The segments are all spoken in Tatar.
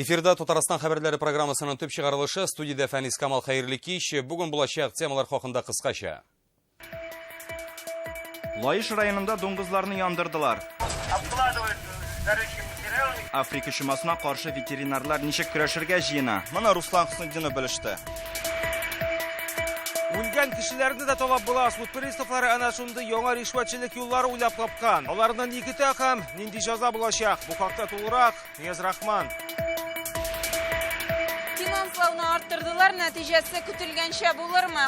Эфирда Татарстан хәбәрләре программасының төп чыгарылышы студиядә Фәнис Камал хәерле кич. Бүген булачак темалар хакында кыскача. Лаеш районында дуңгызларны яндырдылар. Обкладывают горючим материалом. Африка чумасына каршы ветеринарлар ничек көрәшергә җыена? Моны Руслан Хөснетдинов белеште. Үлгән кешеләрне дә талап була. Суд приставлары әнә шундый яңа ришвәтчелек юллары уйлап тапкан. Аларны ни көтә һәм нинди җәза булачак? Бу хакта тулырак Нияз-Рахман. Финанслауны арттырдылар, нәтиҗәсе көтелгәнчә булырмы?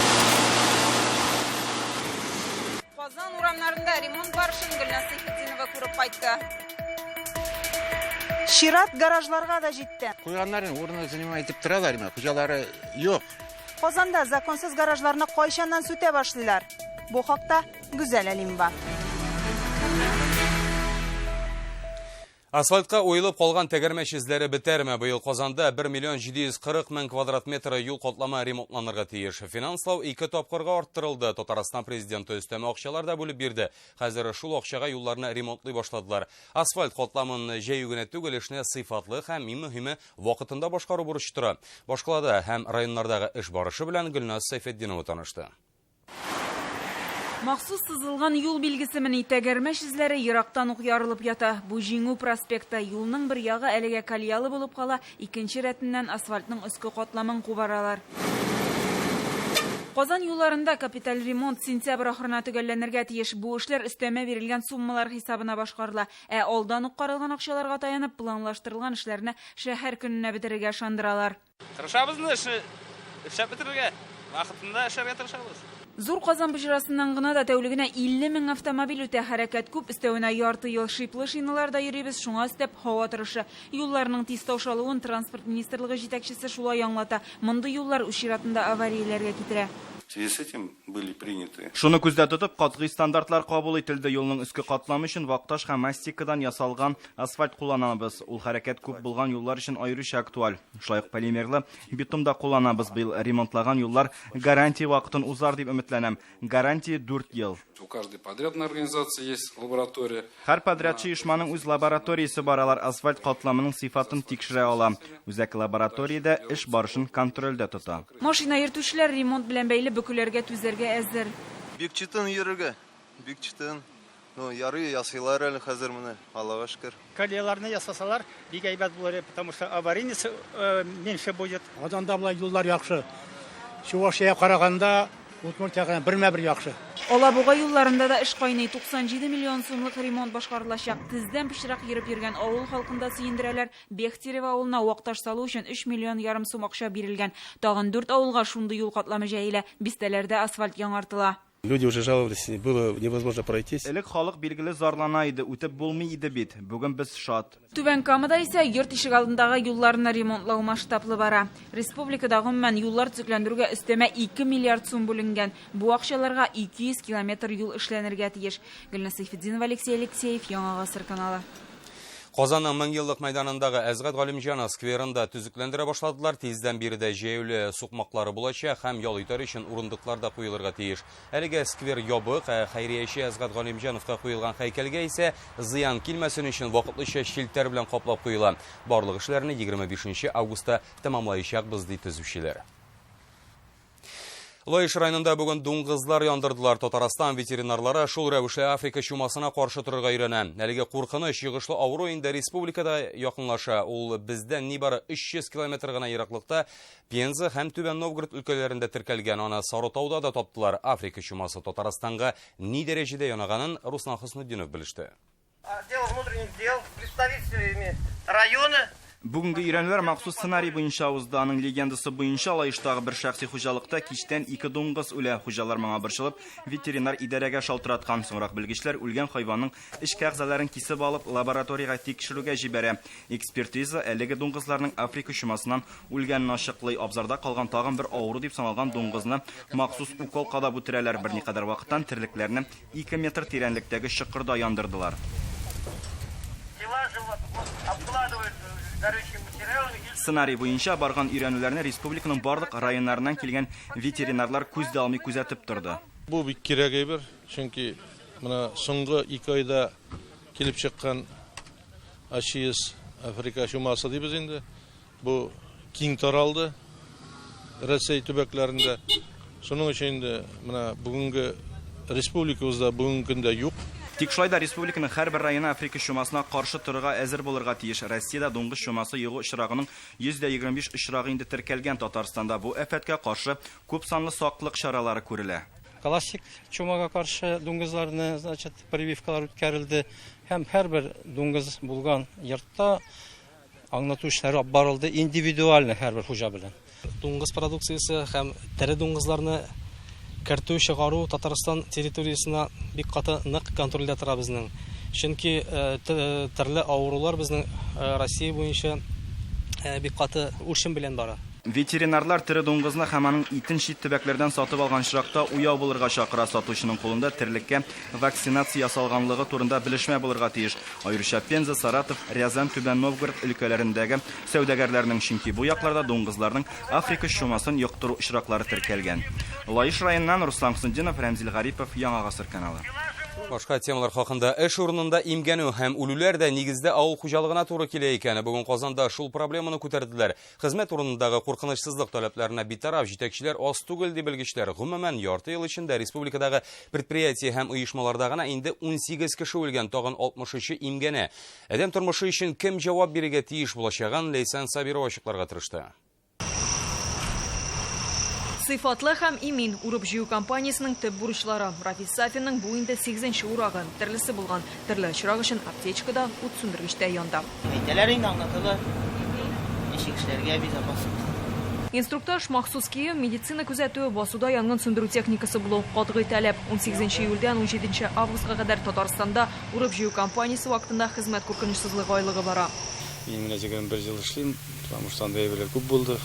Казан урамнарында ремонт барышын Гөлназ Сәйфетдинова күреп кайтты. Чират гаражларга да җитте. Куйганнарын урыны занимай итеп торалар, ме? Хуҗалары юк. Казанда законсыз гаражларны кайчаннан сүтә башлыйлар? Бу хакта Гүзәл Әлимова. Асфальтка уелып калган тәгәрмәч эзләре бетәрме? Быел Казанда 1 миллион 740 мең квадрат метры юл катламы ремонтланырга тиеш. Финанслау ике тапкырга арттырылды. Татарстан президенты өстәмә акчалар да бүлеп бирде. Хәзер шул акчага юлларны ремонтлый башладылар. Асфальт катламын җәю генә түгел, эшне сыйфатлы һәм, иң мөһиме, вакытында башкару бурычы тора. Башкалада һәм районнардагы эш барышы белән Гөлназ Сәйфетдинова танышты. Махсус сызылган юл билгесемени, тәгәрмәч эзләре ерактан ук ярылып ята. Бу Җиңү проспекты. Юлның бер ягы әлегә колеялы булып кала, икенче рәтеннән асфальтның өске катламын кубаралар. Казан юлларында капиталь ремонт сентябрь ахырына төгәлләнергә тиеш. Бу эшләр өстәмә бирелгән суммалар хисабына башкарыла. Ә алдан ук каралган акчаларга таянып, планлаштырылган эшләрне шәһәр көненә бетерергә ышандыралар. Тырышабыз инде эшне эшләп бетерергә, вакытында эшләргә тырышабыз. Зур Казан боҗрасыннан гына да тәүлегенә 50 мең автомобиль үтә, хәрәкәт күп, өстәвенә ярты ел шиплы шиналарда йөрибез, шуңа өстәп һава торышы. Юлларның тиз таушалуын Транспорт министрлыгы җитәкчесе шулай аңлата, мондый юллар үз чиратында аварияләргә китерә. В связи с этим были приняты. Шуны күздә тотып, катгый стандартлар кабул ителде, юлның өске катламы өчен вакташ һәм мастикадан ясалган Асфальт кулланабыз. Ул хәрәкәт күп булган юллар өчен аеруча актуаль. Шулай ук полимерлы битум да кулланабыз. Быел ремонтлаган юллар гарантия вакытын узар дип өметләнәм. Гарантия 4 ел. У каждой подрядной организации есть лаборатория. Һәр подрядчы оешманың үз лабораториясе бар, алар асфальт катламының сыйфатын тикшерә ала. Үзәк лабораториядә эш барышын контрольдә тота. Машина йөртүчеләр ремонт белән бәйле бөкеләргә түзәргә әзер. Бик чытын йөрергә, бик чытын. Ну, ярый, ясыйлар әле хәзер менә, Аллага шөкер. Колеяларны ясасалар, бик әйбәт булыр, потому что аварийность э, меньше будет. Казанда болай юллар яхшы. Чувашия караганда Удмуртиягә бермә-бер яхшы. Алабуга юлларында да эш кайный. 97 миллион сумлык ремонт башкарылачак. Тездән пычрак йөреп йөргән авыл халкын да сөендерәләр. Бехтерево авылына вакташ салу өчен 3 миллион ярым сум акча бирелгән. Тагын 4 авылга шундый юл катламы җәелә. Бистәләрдә асфальт яңартыла. Люди уже жаловались, было невозможно пройтись. Элек халык билгеле зарлана иде, үтеп булмый иде бит. Бүген без шат. Түбән Камада исә йорт ишек алдындагы юлларны ремонтлау масштаблы бара. Республикада гомумән юллар төзекләндерүгә өстәмә 2 миллиард сум бүленгән. Бу акчаларга 200 километр юл эшләнергә тиеш. Гөлназ Сәйфетдинова, Алексей Алексеев, Яңа гасыр каналы. Казанның Меңьеллык мәйданындагы Әзгат Галимҗанов скверын да төзекләндерә башладылар. Тиздән биредә җәяүле сукмаклары булачак һәм ял итәр өчен урындыклар да куелырга тиеш. Әлегә сквер ябык, ә хәйрияче Әзгат Галимҗановка куелган һәйкәлгә исә зыян килмәсен өчен вакытлыча челтәр белән каплап куела. Барлык эшләрне егерме бишенче августта тәмамлаячакбыз, ди төзүчеләр. Лаеш районында бүген дуңгызлар яндырдылар. Татарстан ветеринарлары шул рәвешле Африка чумасына каршы торырга өйрәнә. Әлеге куркыныч йогышлы авыру инде республикада якынлаша. Ул бездән нибары 300 километр гына ераклыкта Пенза һәм Түбән Новгород өлкәләрендә теркәлгән. Аны Сарытауда да таптылар. Африка чумасы Татарстанга ни дәрәҗәдә янаганын Руслан Хөснетдинов белеште. Отдел внутренних дел, представителями района. Бүгенге өйрәнүләр махсус сценарий буенча узды. Аның легендасы буенча Лаештагы бер шәхси хуҗалыкта кичтән ике дуңгыз үлә. Хуҗалар моңа борчылып, ветеринар идарәгә шалтыраткан. Соңрак белгечләр үлгән хайванның эчке әгъзаларын кисеп алып, лабораториягә тикшерүгә җибәрә. Экспертиза әлеге дуңгызларның африка чумасыннан үлгәнен ачыклый. Абзарда калган тагын бер авыру дип саналган дуңгызны махсус укол кадап үтерәләр. Берникадәр вакыттан терлекләрне Ике метр тирәнлектәге чокырда яндырдылар. Сценарий буенча барган өйрәнүләрне республиканың барлык районнарыннан килгән ветеринарлар күз дә алмый күзәтеп торды. Бу бик кирәк әйбер, чөнки менә соңгы ике айда килеп чыккан АЧИС, Африка чумасы дибез инде, Бу киң таралды Рәсәй төбәкләрендә. Шуның өчен инде менә бүгенге республикабызда бүгенге көндә юк. Тик шулай да республиканың һәрбер районы африка чумасына каршы торырга әзер булырга тиеш. Россиядә дуңгыз чумасы йогу очрагының 125 очрагы инде теркәлгән. Татарстанда бу афәткә каршы күпсанлы саклык чаралары күрелә. Классик чумага каршы дуңгызларны, значит, прививкалар үткәрелде һәм һәрбер дуңгыз булган йортта, Аңлату эшләре алып барылды индивидуаль һәрбер хуҗа белән. Дуңгыз продукциясе һәм тере дуңгызларны кертү, чыгару Татарстан территориясенә бик каты нык контрольдә тора безнең. Чөнки төрле авырулар безнең Россия буенча бик каты үрчем белән бара. Ветеринарлар тере дуңгызны һәм аның итен чит төбәкләрдән сатып алган очракта уяу булырга чакыра, сатучының кулында терлеккә вакцинация ясалганлыгы турында белешмә булырга тиеш, аеруча Пенза, Саратов, Рязань, Түбән Новгород өлкәләрендәге сәүдәгәрләрнең, чөнки бу якларда дуңгызларның африка чумасын йоктыру очраклары теркәлгән. Лаеш районыннан Руслан Хөснетдинов, Рәмзил Гарипов, Яңа гасыр каналы. Башка темалар хакында. Эш урынында имгәнү һәм үлүләр дә нигездә авыл хуҗалыгына туры килә икән. Бүген Казанда шул проблеманы күтәрделәр. Хезмәт урынындагы куркынычсызлык таләпләренә битараф җитәкчеләр аз түгел, ди белгечләр. Гомумән, ярты ел эчендә республикадагы предприятие һәм оешмаларда гына инде 18 кеше үлгән, тагын 63-е имгәнә. Адәм тормышы өчен кем җавап бирергә тиеш булачагын Ләйсән Сабирова ачыкларга тырышты. Сыйфатлы һәм имин урып-җыю кампаниясенең төп бурычлары. Рафис Сафинның бу инде сигезенче урагы, төрлесе булган. Төрле очрак өчен аптечка да, ут сүндергеч тә янда. Әйтәләр инде, аңлаталар, ничек эшләргә, безопасность. Инструктаж, махсус кием, медицина күзәтүе, басуда янгын сүндерү техникасы булу, катгый таләп. Унсигезенче июльдән унҗиденче августка кадәр Татарстанда урып-җыю кампаниясе вакытында хезмәт куркынычсызлыгы айлыгы бара. Мин менә егерме бер ел эшлим. Тормыштан да әйберләр күп булды.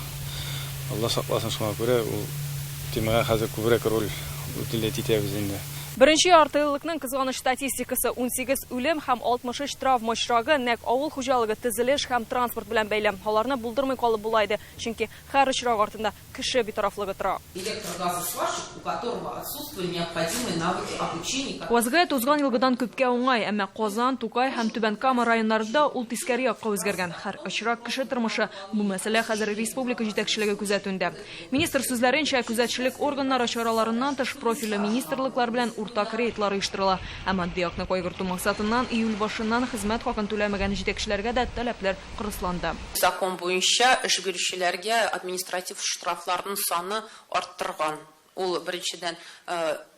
Алла сакласын, шуңа күрә ул темага хәзер күбрәк роль утилять итәбез инде. Беренче яртыеллыкның кызганыч статистикасы, унсигез үлем һәм алтмыш өч травма очрагы, нәкъ авыл хуҗалыгы, тезелеш һәм транспорт белән бәйле. Аларны булдырмый калып була иде, чөнки һәр очрак артында кеше битарафлыгы тора. Электр газы сварщик, у которого отсутствуе необходимые навыки обучения. Вазгыять узган елгыдан күпкә уңай, әмма Казан, Тукай һәм Түбән Кама районнарында ул тискәре якка үзгәргән. Хәр очрак кеше тормышы, бу мәсьәлә хәзер республика җитәкчелеге күзәтүендә. Министр сүзләренчә, күзәтчелек органнары чараларыннан тыш профильле министрлыклар белән уртак рейдлар оештырыла, ә матди якны кайгырту максатыннан июль башыннан хезмәт хакын түләмәгән җитәкчеләргә дә таләпләр кырысланды. Закон буенча эш бирүчеләргә административ штрафларның саны арттырган. Ул, беренчедән,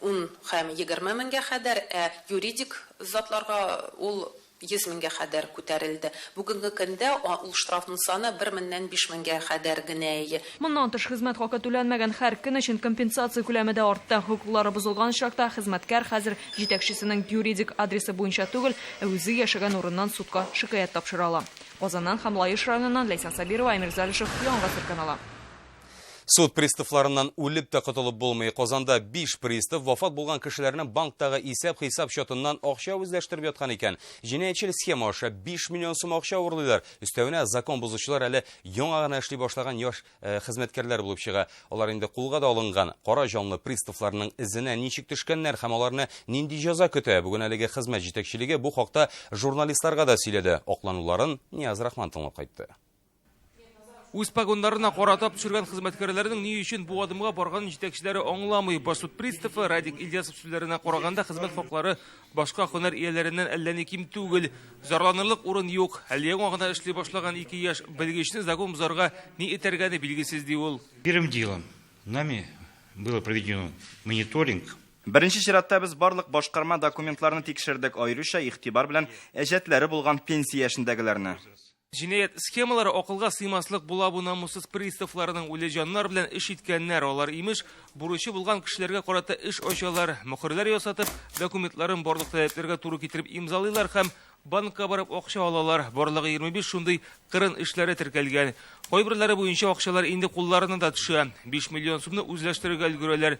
ун һәм егерме меңгә хәдәр, ә юридик затларга ул йөз меңгә хәдәр күтәрелде. Бүгенге көндә ул штрафның саны бер меннән биш меңгә хәдәр генә. Моннан тыш, хезмәт хакы түләнмәгән һәр көн өчен компенсация күләме дә артты. Хокуклары бозылган очракта, хезмәткәр хәзер җитәкчесенең юридик адресы буенча түгел, ә үзе яшәгән урыннан судка шикаять тапшыра ала. Казаннан һәм Лаеш районыннан Ләйсән Сабирова, Әмир Залишев, Яңа гасыр каналы. Суд приставларыннан үлеп тә котылып булмый. Казанда биш пристав вафат булган кешеләрнең банктагы исәп-хисап счетыннан акча үзләштереп яткан икән. Җинаятьчел схема аша биш миллион сум акча урлыйлар. Өстәвенә, закон бозучылар әле яңа гына эшли башлаган яшь э, хезмәткәрләр булып чыга. Алар инде кулга да алынган кара җанлы приставларның эзенә ничек төшкәннәр һәм аларны нинди җәза көтә? Бүген әлеге хезмәт җитәкчелеге бу хакта журналистларга да сөйләде. Аклануларын Нияз Рахман тыңлап кайтты. Үз погоннарына карата төшергән хезмәткәрләрнең ни өчен бу адымга барганын җитәкчеләре аңламый. Бассуд приставы Радик Ильясов сүзләренә караганда, хезмәт хаклары Башка һөнәр ияләреннән әллә ни ким түгел. Зарланырлык урын юк. Әле яңа гына эшли башлаган ике яшь белгечне закон бозарга ни этәргәне билгесез, ди ул. Первым делом нами было проведено мониторинг. Беренче чиратта без барлык башкарма документларны тикшердек, аеруча игътибар белән әҗәтләре булган пенсия яшендәгеләрне. Җинаять схемалары акылга сыймаслык була бу намуссыз приставларның үле җаннар белән эш иткәннәр, алар имеш, бурычы булган кешеләргә карата эш ачалар, мөхерләр ясатып, документларын барлык таләпләргә туры китереп имзалыйлар һәм банкка барып акча алалар, барлыгы 25 шундый кырын эшләре теркәлгән. Кайберләре буенча акчалар инде кулларына да төшә, 5 миллион сумны үзләштерергә өлгерәләр,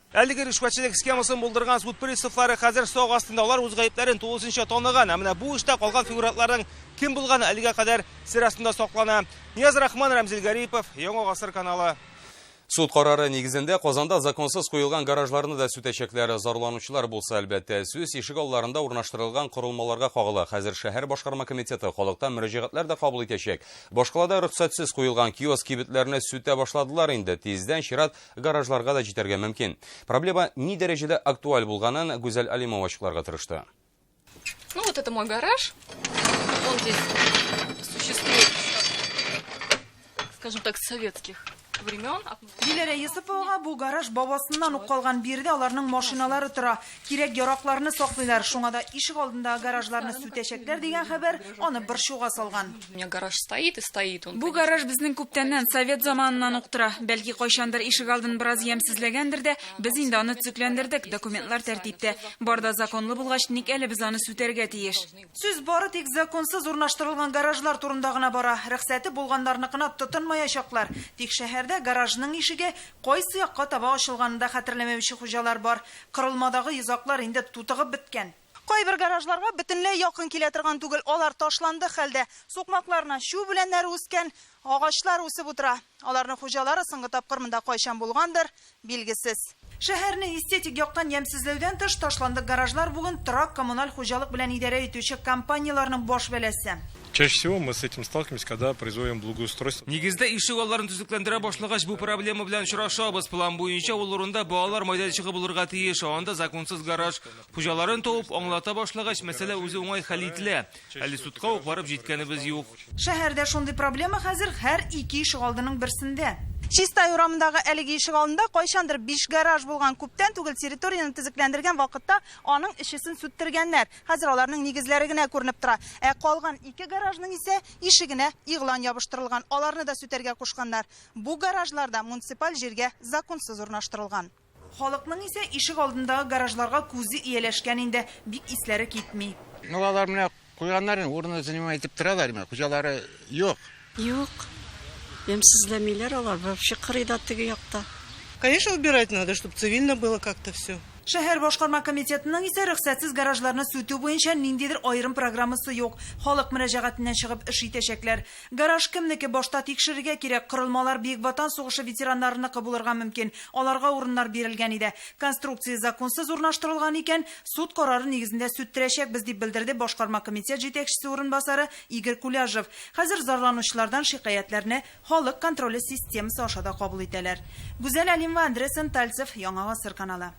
Әлеге ришвәтчелек схемасын булдырган суд приставлары хәзер сак астында. Алар үз гаепләрен тулысынча таныган. Ә менә бу эштә калган фигурантларның кем булганы әлегә кадәр сер астында саклана. Нияз Рахман, Рәмзил Гарипов, Яңа гасыр каналы. Суд карары нигезендә Казанда законсыз куелган гаражларны да сүтәчәкләр. Зарланучылар булса, әлбәттә, сүз ишек алларында урнаштырылган корылмаларга кагыла. Хәзер шәһәр башкарма комитеты халыктан мөрәҗәгатьләр дә кабул итәчәк. Башкалада рөхсәтсез куелган киоск-кибетләрне сүтә башладылар инде. Тиздән чират Гаражларга да җитәргә мөмкин. Проблема ни дәрәҗәдә актуаль булганын Гүзәл Алимова ачыкларга тырышты. Ну вот это мой гараж. Он здесь существует, скажем так, советских времен. Диләрә Йосыповага бу гараж бабасыннан ук калган. Биредә аларның машиналары тора. Кирәк-яракларны саклыйлар, шуңа да ишек алдындагы гаражларны сүтәчәкләр дигән хәбәр аны борчуга салган. Бу гараж безнең күптәннән, совет заманыннан ук тора. Бәлки, кайчандыр ишек алдын бераз ямьсезләгәндер дә, без инде аны төзекләндердек, документлар тәртиптә. Бар да законлы булгач, ник әле без аны сүтәргә тиеш? Сүз бары тик законсыз урнаштырылган гаражлар турында гына бара. Рөхсәте булганнарныкына тотынмаячаклар. Тик шәһәрдә гаражның ишеге Кайсы якка таба ачылганын да хәтерләмәүче хуҗалар бар. Кырылмадагы йозаклар инде тутыгып беткән. Кайбер гаражларга бөтенләй якын килә торган түгел, алар ташландык хәлдә. Сукмакларына чү үләннәре үскән, агачлар үсеп утыра. Аларның хуҗалары соңгы тапкыр монда кайчан булгандыр, билгесез. Шәһәрне эстетик яктан ямьсезләүдән тыш, ташландык гаражлар бүген торак-коммуналь хуҗалык белән идарә итүче компанияләрнең баш бәласе. Чаще всего мы с этим сталкиваемся, когда производим благоустройство. Нигездә ишек алларын төзекләндерә башлагач, бу проблема белән очрашабыз. План буенча ул урында балалар майданчыгы булырга тиеш, анда законсыз гараж. Хуҗаларын табып, аңлата башлагач, мәсьәлә үзе уңай хәл ителә. Әле судка ук барып җиткәнебез юк. Шәһәрдә шундый проблема хәзер һәр ике ишек алдының берсендә. Чистай урамындагы әлеге ишек алдында кайчандыр биш гараж булган. Күптән түгел территорияне төзекләндергән вакытта аның эчесен сүттергәннәр. Хәзер аларның нигезләре генә күренеп тора. Ә калган ике гаражның исә ишегенә игълан ябыштырылган, аларны да сүтәргә кушканнар. Бу гаражлар да муниципаль җиргә законсыз урнаштырылган. Халыкның исә ишек алдындагы гаражларга күзе ияләшкән инде, бик исләре китми. Ну алар менә куйганнар инде, урынны занимай итеп торалар, менә хуҗалары юк. Юк, ямьсезләмиләр алар, вообще кырый да теге якта. Конечно убирать надо, чтоб цивильно было как то все. Шәһәр башкарма комитетының исә рөхсәтсез гаражларны сүтү буенча ниндидер аерым программасы юк. Халык мөрәҗәгатеннән чыгып эш итәчәкләр. Гараж кемнеке, башта тикшерергә кирәк, корылмалар Бөек Ватан сугышы ветераннарыныкы булырга мөмкин, аларга урыннар бирелгән иде. Конструкция законсыз урнаштырылган икән, суд карары нигезендә сүттерәчәкбез, дип белдерде башкарма комитет җитәкчесе урынбасары Игорь Куляжев, Хәзер зарланучылардан шикаятьләрне халык контроле системасы аша да кабул итәләр. Гүзәл Әлимова, Андрей Сентальцев, Яңа гасыр каналы.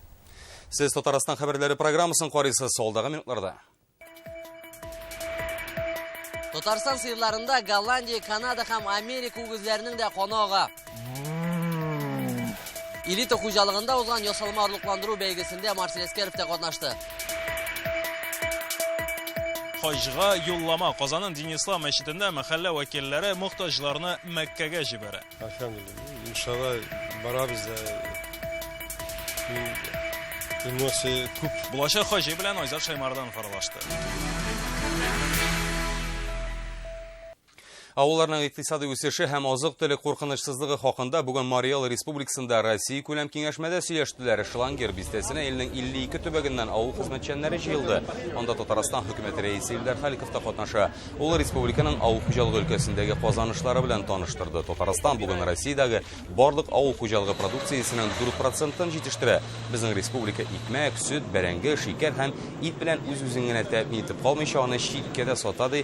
Сез Татарстан хәбәрләре программасын карыйсыз, алдагы минутларда. Татарстан сыерларында Голландия, Канада һәм Америка үгезләренең дә каны ага. Элита хуҗалыгында узган ясалма орлыкландыру бәйгесендә Марсель Әскәров та катнашты. Хаҗга юллама Казанның Динислам мәчетендә мәхәллә вәкилләре мохтаҗларны Мәккәгә җибәрә. Әлхәмдулилла, иншалла барабыз да. Эмоция күп. Булачак хаҗи белән Айзат Шаймардан фаралашты. Авылларның икътисадый үсеше һәм азык-төлек куркынычсызлыгы хакында бүген Марий Эл республикасында Россия күләм киңәшмәдә сөйләштеләр. Шлангер бистәсенә илнең 52 төбәгеннән авыл хезмәтчәннәре җыелды. Анда Татарстан хөкүмәте рәисе Илдар Халиков та катнаша. Ул республиканың авыл хуҗалыгы өлкәсендәге казанышлары белән таныштырды. Татарстан бүген Россиядәге барлык авыл хуҗалыгы продукциясенең 4 процентын җитештерә. Безнең республика икмәк, сөт, бәрәңге, шикәр һәм ит белән үз-үзен генә тәэмин итеп калмыйча, аны читкә дә сата, ди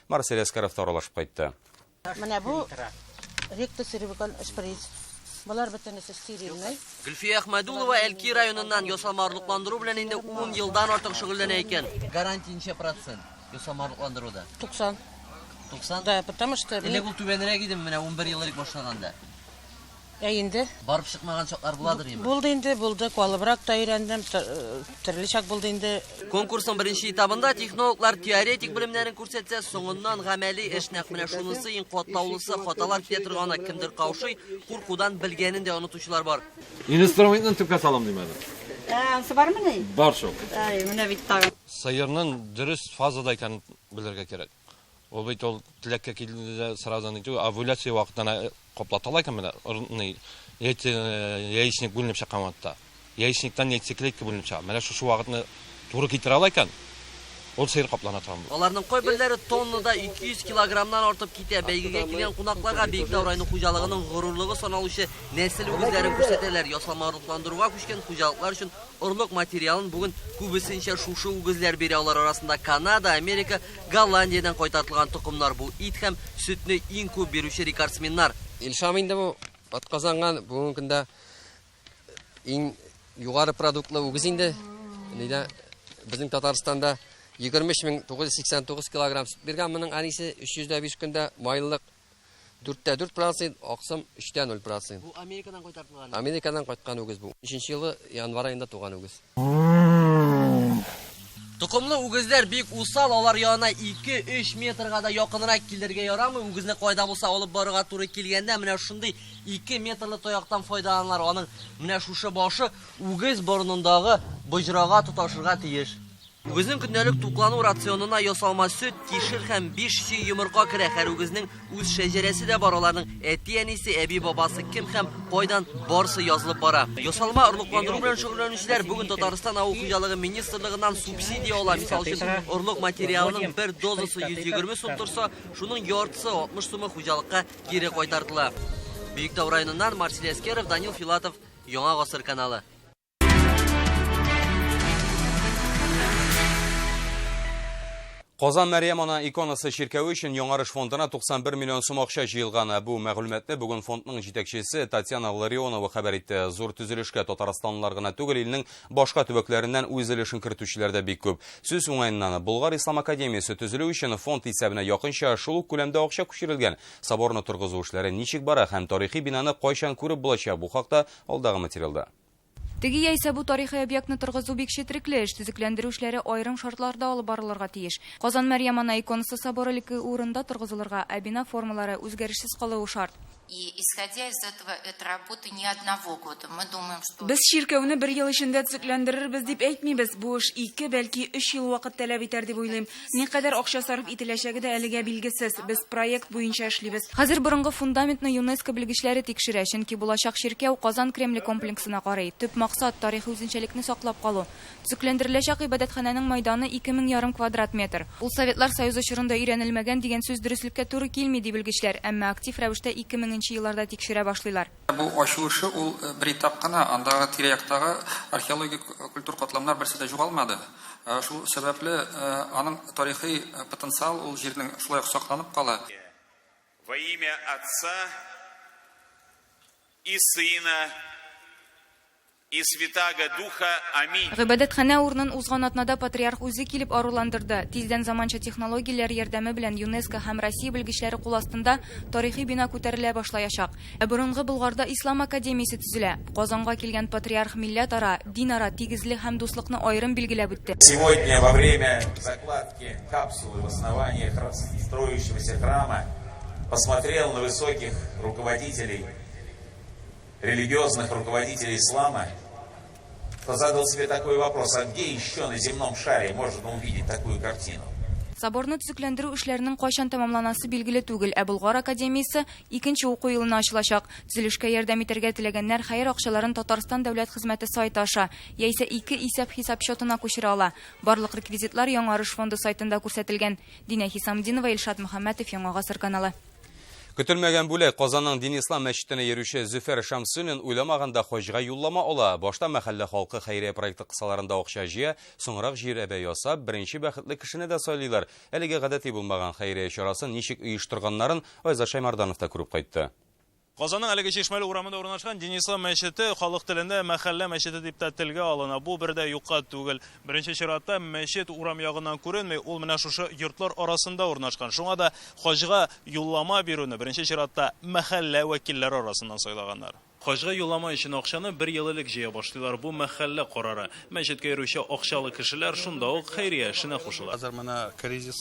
Марсель Әскәров та аралашып кайтты. Менә бу ректосеревикон шприц. Болар бөтенесе стерильный. Гөлфия Әхмәдулова Әлки районыннан ясалма орлыкландыру белән инде 10 елдан артык шөгыльләнә икән. Гарантия ничә процент ясалма орлыкландыруда? 90. 90? Да, потому что... Элек ул түбәнрәк иде, менә 11 ел элек башлаганда. Ә инде. Барып чыкмаган чаклар буладыр ими? Булды инде, булды. Калыбрак та өйрәндем, төрле чак булды инде. Конкурсның беренче этабында технологлар теоретик белемнәрен күрсәтсә, соңыннан гамәли эш нәкъ менә шунысы иң катлаулысы, хаталар китә торганы, кемдер каушый, куркудан белгәнен дә онытучылар бар. Инструментны төпкә салам димәдем. Ә, ансы бармыни? Бар шул. Әй, менә бит тагын. Сыерның дөрес фазада икәнен белергә кирәк. Ул бит ул теләккә килде дә сразу ни түгел, овуляция вакытына каплаталар икән менә, ни, яйце, яичник бүленеп чыккан вакытта. Яичниктан яйцеклетка бүленеп чыга. Менә шушы вакытны туры китерә ала икән, ул сыер каплана торган була. Аларның кайберләре тоннада 200 килограммнан артып китә. Бәйгегә килгән кунакларга Биектау районы хуҗалыгының горурлыгы саналучы нәсел үгезләрен күрсәтәләр. Ясалма орлыкландыруга күчкән хуҗалыклар өчен Орлык материалын бүген күбесенчә шушы үгезләр бирә, алар арасында Канада, Америка, Голландиядән кайтартылган токымнар, бу ит һәм сөтне иң күп бирүче рекордсменнар. Илшам инде бу атказанган, бүгенге көндә иң югары продуктлы үгез инде. Нидә безнең Татарстанда 23989 килограмм сөт биргән, моның әнисе 305 көндә майлылык Дүрттә дүрт процент, аксым өчтә ноль процент. Бу Америкадан кайтартылган. Америкадан кайткан үгез бу. Өченче елы январь аенда туган үгез. Токымлы үгезләр бик усал, алар янына ике-өч метрга да якынрак килергә ярамый, үгезне кая да булса алып барырга туры килгәндә, менә шундый ике метрлы таяктан файдаланалар, аның менә шушы башы үгез борынындагы боҗрага тоташырга тиеш. Үгезнең көндәлек туклану рационына ясалма сөт, кишер һәм 5 чөй йомырка керә. Һәр үгезнең үз шәҗәрәсе дә бар, аларның әти-әнисе, әби-бабасы кем һәм кайдан барсы язылып бара. Ясалма орлыкландыру белән шөгыльләнүчеләр бүген Татарстан авыл хуҗалыгы министрлыгыннан субсидия ала. Мисал өчен, орлык материалының бер дозасы 120 сум торса, шуның яртысы 60 сумы хуҗалыкка кире кайтартыла. Биектау районыннан Марсель Әскеров, Данил Филатов, Яңа гасыр каналы. Казан Мәриям ана иконасы чиркәве өчен яңарыш фондына 91 миллион сум акча җыелган. Бу мәгълүматны бүген фондның җитәкчесе Татьяна Ларионова хәбәр итте. Зур төзелешкә татарстанлылар гына түгел, илнең башка төбәкләреннән үз өлешен кертүчеләр дә бик күп. Сүз уңаеннан, Болгар ислам академиясе төзелү өчен фонд исәбенә якынча шул ук күләмдә акча күчерелгән. Соборны торгызу эшләре ничек бара һәм тарихи бинаны кайчан күреп булачак, бу хакта алдагы материалда. Теге яисә бу тарихи объектны торгызу бик четерекле эш, төзекләндерү эшләре аерым шартларда алып барылырга тиеш. Казан Мәрьям ана иконасы соборы лке урында торгызылырга, ә бина формалары үзгәрешсез калуы шарт. Без чиркәүне бер ел эчендә төзекләндерербез дип әйтмибез, бу эш ике, бәлки өч ел вакыт таләп итәр дип уйлыйм. Никадәр акча сарыф ителәчәге дә әлегә билгесез. Без проект буенча эшлибез. Хәзер борынгы фундаментны ЮНЕСКО белгечләре тикшерә, чөнки булачак чиркәү Казан Кремле комплексына карый. Төп максат, тарихи үзенчәлекне саклап калу. Төзекләндереләчәк гыйбадәтханәнең майданы ике мең ярым квадрат метр. Ул Советлар Союзы чорында өйрәнелмәгән дигән сүз дөреслеккә туры килми, ди белгечләр, әмма актив рәвештә ике меңенче елларда тикшерә башлыйлар. Бу ачу эше ул бер этап кына, андагы тирә-яктагы археологик культур катламнар берсе дә югалмады. Шул сәбәпле аның тарихи потенциал ул җирнең шулай ук сакланып кала. Во имя Отца и Сына. И Святаго Духа. Аминь. Гыйбадәтханә урынын узган атнада Патриарх үзе килеп аруландырды. Тиздән заманча технологияләр ярдәме белән ЮНЕСКО һәм Россия белгечләре кул астында тарихи бина күтәрелә башлаячак. Ә борынгы Болгарда Ислам академиясе төзелә. Казанга килгән Патриарх милләтара, динара тигезлек һәм дуслыкны аерым билгеләп үтте. Сегодня во время закладки капсулы в основании строящегося храма посмотрел на высоких руководителей религиозных руководителей ислама, то задал себе такой вопрос, а где еще на земном шаре можно увидеть такую картину? Соборны төзекләндерү эшләренең кайчан тәмамланасы билгеле түгел, ә Болгар академиясе икенче уку елына ачылачак. Төзелешкә ярдәм итәргә теләгәннәр хәер акчаларын Татарстан дәүләт хезмәте сайты аша яисә ике исәп-хисап счетына күчерә ала. Барлык реквизитлар Яңарыш фонды сайтында күрсәтелгән. Динә Хисамдинова, Илшат Мөхәммәтов, Яңа гасыр каналы. Көтелмәгән бүләк, Казанның Дин Ислам мәчетенә йөрүче Зөфәр Шәмсуллин уйламаганда хаҗга юллама ала. Башта мәхәллә халкы хәйрия проекты кысаларында акча җыя, соңрак җирәбә ясап, беренче бәхетле кешене дә сайлыйлар. Әлеге гадәти булмаган хәйрия чарасын ничек оештырганнарын Айзат Шәймарданов та күреп кайтты. Казанның әлеге Чишмәле урамында урнашкан Денислам мәчете халык телендә мәхәллә мәчете дип тә телгә алына. Бу бер дә юкка түгел. Беренче чиратта, мәчет урам ягыннан күренми, ул менә шушы йортлар арасында урнашкан. Шуңа да хаҗга юллама бирүне беренче чиратта мәхәллә вәкилләре арасыннан сайлаганнар. Хаҗга юллама өчен акчаны бер ел элек җыя башлыйлар, бу мәхәллә карары. Мәчеткә йөрүче акчалы кешеләр шунда ук хәйрия эшенә кушыла. Хәзер менә кризис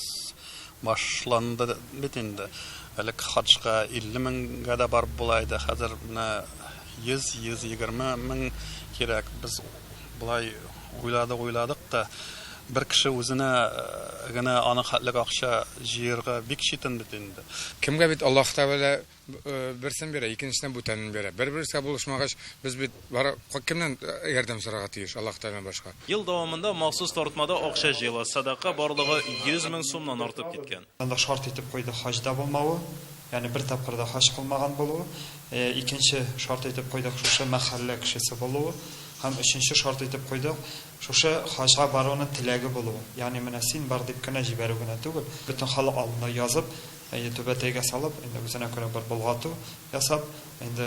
Башланды бит инде. Элек хаҗга 50 меңгә дә барып була иде, хәзер менә 100, 120 мең кирәк. Без болай уйладык-уйладык та, бер кеше үзенә генә аның хәтлек акча җыярга бик читен бит инде. Кемгә бит Аллаһы Тәгалә Берсен бирә, икенчесенә бүтәнен бирә. Бер-берсгә булышмагач, без бит бары кемнән ярдәм сорарга тиеш, Аллаһ Тәгаләдән башка? Ел дәвамында махсус тартмада акча җыела, сәдака барлыгы 100 мең сумнан артып киткән. Анда шарт итеп куйды хаҗда булмавы, ягъни бер тапкыр да хаҗ кылмаган булуы, икенче шарт итеп куйдык шушы мәхәллә кешесе булуы һәм өченче шарт итеп куйдык шушы хаҗга баруны теләге булуы, ягъни менә син бар дип кенә җибәрү генә түгел, бөтен халык алдында язып, Әйе, түбәтәйгә салып, инде үзенә күрә бер болгату ясап, инде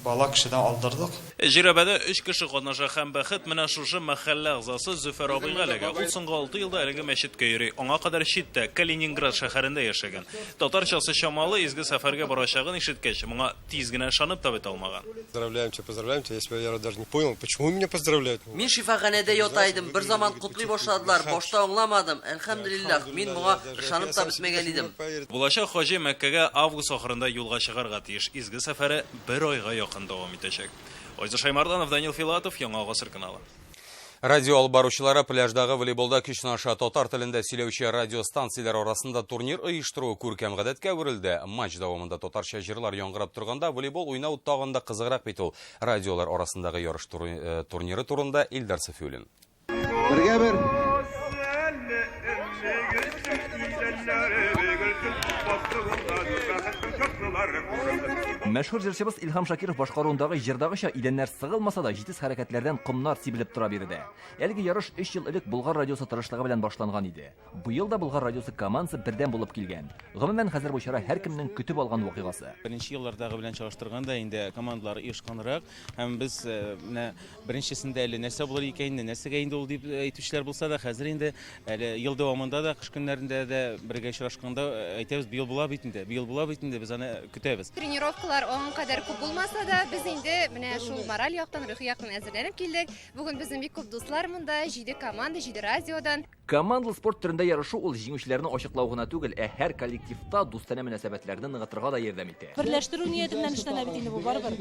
бала кешедән алдырдык. Җирәбәдә өч кеше катнаша һәм бәхет менә шушы мәхәллә әгъзасы Зөфәр абыйга эләгә. Ул соңгы алты елда әлеге мәчеткә йөри. Аңа кадәр читтә, Калининград шәһәрендә яшәгән. Татарчасы чамалы, изге сәфәргә барачагын ишеткәч, моңа тиз генә ышанып та бетә алмаган. Поздравляемчы, поздравляемчы, я себя даже не понял, почему меня поздравляют? Мин шифаханәдә ята идем, берзаман котлый башладылар, башта аңламадым, әлхәмделиллах, мин моңа Ышанып та бетмәгән идем. Булачак хаҗи Мәккәгә август ахырында юлга чыгарга тиеш. Изге сәфәре бер айга якын дәвам итәчәк. Айза Шаймарданов, Данил Филатов, Яңа гасыр каналы. Радио алып баручылары пляждагы волейболда көч сынаша. Татар телендә сөйләүче радиостанцияләр арасында турнир оештыру күркәм гадәткә әверелде. Матч дәвамында татарча җырлар яңгырап торганда волейбол уйнау тагын да кызыграк бит ул. Радиолар арасындагы ярыш э, турниры турында Илдар Сафиуллин. Бергә бер. Мәшһүр җырчыбыз Илһам Шакиров башкаруындагы җырдагыча идәннәр сыгылмаса да җитез хәрәкәтләрдән комнар сибелеп тора биредә. Әлеге ярыш өч ел элек Болгар радиосы тырышлыгы белән башланган иде. Быел да Болгар радиосы командасы бердәм булып килгән. Гомумән, хәзер бу чара һәркемнең көтеп алган вакыйгасы. Беренче еллардагы белән чагыштырганда, инде командалар оешканрак. Һәм без менә беренчесендә әле нәрсә булыр икән инде, нәрсәгә инде ул дип әйтүчеләр булса да, хәзер инде әле ел дәвамында да, кыш көннәрендә дә бергә очрашканда әйтәбез, быел була бит инде, быел була бит инде, без аны көтәбез. Тренировкалар аңа кадәр күп булмаса да, без инде менә шул мораль яктан, рухи яктан әзерләнеп килдек. Бүген безнең бик күп дуслар монда, җиде команда, җиде радиодан. Командалы спорт төрендә ярышу ул җиңүчеләрне ачыклау гына түгел, ә һәр коллективта дустанә мөнәсәбәтләрне ныгытырга да ярдәм итә. Берләштерү нияте белән эшләнә бит инде бу, барыбер.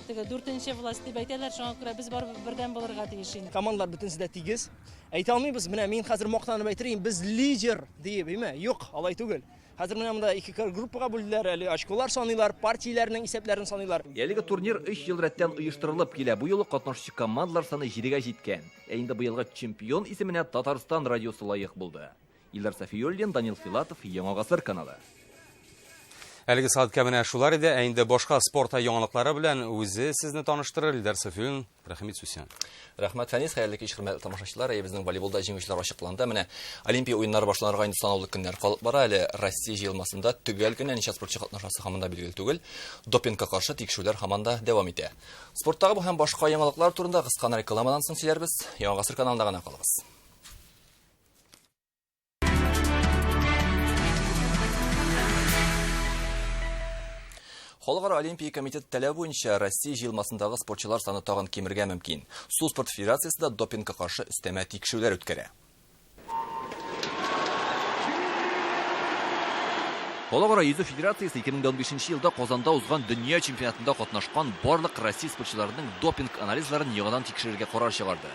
Теге дүртенче власть дип әйтәләр, шуңа күрә без барыбер бердәм булырга тиеш инде. Командалар бөтенесе дә тигез. Әйтә алмыйбыз, менә мин хәзер мактанып әйтер идем, без лидер диеп, әйме? Юк, алай түгел. Хәзер менә монда ике группага бүлделәр, әле очколар саныйлар, партияләрнең исәпләрен саныйлар. Әлеге турнир өч ел рәттән оештырылып килә. Бу юлы катнашучы командалар саны җидегә җиткән. Ә инде быелгы чемпион исеменә Татарстан радиосы лаек булды. Илдар Сафиуллин, Данил Филатов, Яңа гасыр каналы. Әлеге сәгатькә менә шулар иде, ә инде башка спорт яңалыклары белән үзе сезне таныштырыр Илдар Сафиуллин. Рәхмәт сүсән. Рәхмәт Фәнис, хәерле кич хөрмәтле тамашачылар. Әйе, безнең волейболда җиңүчеләр ачыкланды. Менә Олимпия уеннары башланырга инде санаулы көннәр калып бара. Әле Россия җыелмасында төгәл генә ничә спортчы катнашасы һаман да билгеле түгел. Допингка каршы тикшерүләр һаман да дәвам итә. Спорттагы бу һәм башка яңалыклар турында кыска рекламадан соң сөйләрбез. Яңа гасыр каналында гына калыгыз. Халыкара олимпия комитеты таләбе буенча Россия җыелмасындагы спортчылар саны тагын кимергә мөмкин. Су спорт федерациясе дә допингка каршы өстәмә тикшерүләр үткәрә. Халыкара йөзү федерациясе 2015 елда Казанда узган дөнья чемпионатында катнашкан барлык россия спортчыларының допинг анализларын яңадан тикшерергә карар чыгарды.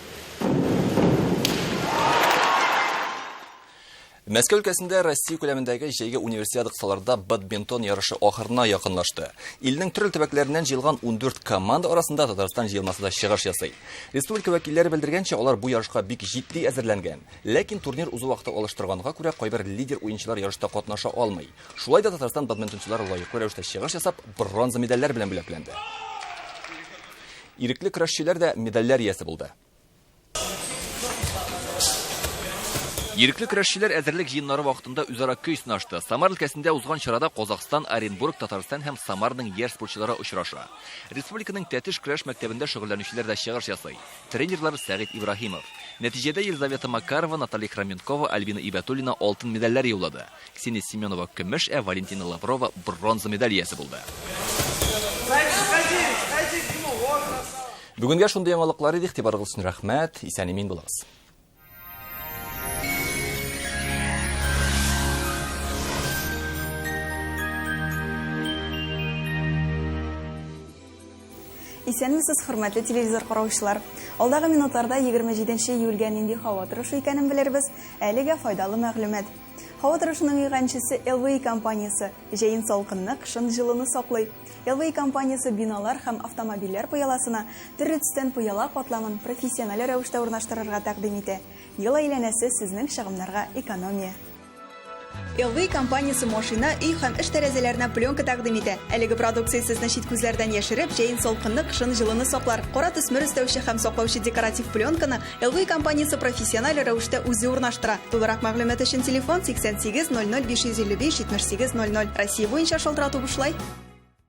Мәскәү өлкәсендә Россия күләмендәге җәйге универсиада кысаларда бадминтон ярышы ахырына якынлашты. Илнең төрле төбәкләреннән җыелган 14 команда арасында Татарстан җыелмасы да чыгыш ясый. Республика вәкилләре белдергәнчә, алар бу ярышка бик җитди әзерләнгән. Ләкин турнир узу вакыты алыштырганга күрә, кайбер лидер уенчылар ярышта катнаша алмый. Шулай да Татарстан бадминтончылары лаеклы рәвештә чыгыш ясап, бронза медальләр белән бүләкләнде. Ирекле көрәшчеләр дә медальләр иясе булды. Ирекле көрәшчеләр әзерлек җыеннары вакытында үзара көй сынашты. Самар өлкәсендә узган чарада Казахстан, Оренбург, Татарстан һәм Самарның яшь спортчылары очраша. Республиканың Тәтеш көрәш мәктәбендә шөгыльләнүчеләр дә чыгыш ясый. Тренерлар Сәгыйть Ибраһимов. Нәтиҗәдә Елизавета Макарова, Наталья Хроменкова, Альбина Ибәтуллина алтын медальләр яулады. Ксения Семенова көмеш, ә Валентина Лаврова бронза медаль иясе булды. Бүгенгә шундый яңалыклар иде, игътибарыгыз өчен рәхмәт, исән-имин булыгыз. Исәнмесез, хөрмәтле телевизор караучылар! Алдагы минутларда 27 нче июльгә нинди һава торышы икәнен белербез. Әлегә файдалы мәгълүмат. Һава торышының иганчесе LVI компаниясе җәен салкынны, кышын җылыны саклый. LVI компаниясе биналар һәм автомобильләр пыяласына төрле төстән пыяла катламын профессиональ рәвештә урнаштырырга тәкъдим итә. Ел әйләнәсе сезнең чыгымнарга экономия. LV компаниясе машина, өй һәм эш тәрәзәләренә пленка тәкъдим итә. Әлеге продукция сезне чит күзләрдән яшереп, җәен салкынны, кышын җылыны саклар. Кара төсмер өстәүче һәм саклаучы декоратив пленканы LV компаниясе профессиональ рәвештә үзе урнаштыра. Тулырак мәгълүмат өчен телефон 88 00 555 78 00. Россия буенча шалтырату бушлай.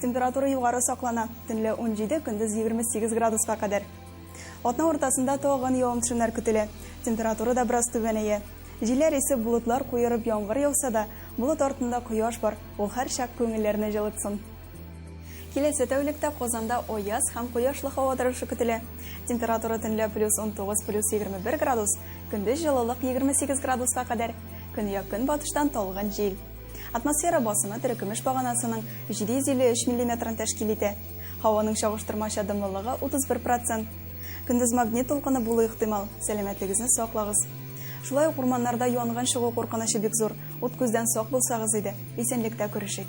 Температура югары саклана, төнлә 17, көндез 28 градуска кадәр. Атна уртасында тагын явым-төшемнәр көтелә. Температура да бераз түбәнәя. Җилләр исе болытлар куерып яңгыр яуса да, болыт артында кояш бар, ул һәрчак күңелләрне җылытсын. Киләсе тәүлектә Казанда аяз һәм кояшлы һава торышы көтелә. Температура төнлә плюс 19 плюс 21 градус, көндез җылылык 28 градуска кадәр. Көньяк-көнбатыштан талгын җил. Атмосфера басымы терекөмеш баганасының 753 миллиметрын тәшкил итә. Һаваның чагыштырмача дымлылыгы 31 процент. Көндез магнит тулкыны булу ихтимал, сәламәтлегезне саклагыз. Шулай ук урманнарда янгын чыгу куркынычы бик зур. Ут күздән сак булсагыз иде, исәнлектә күрешик.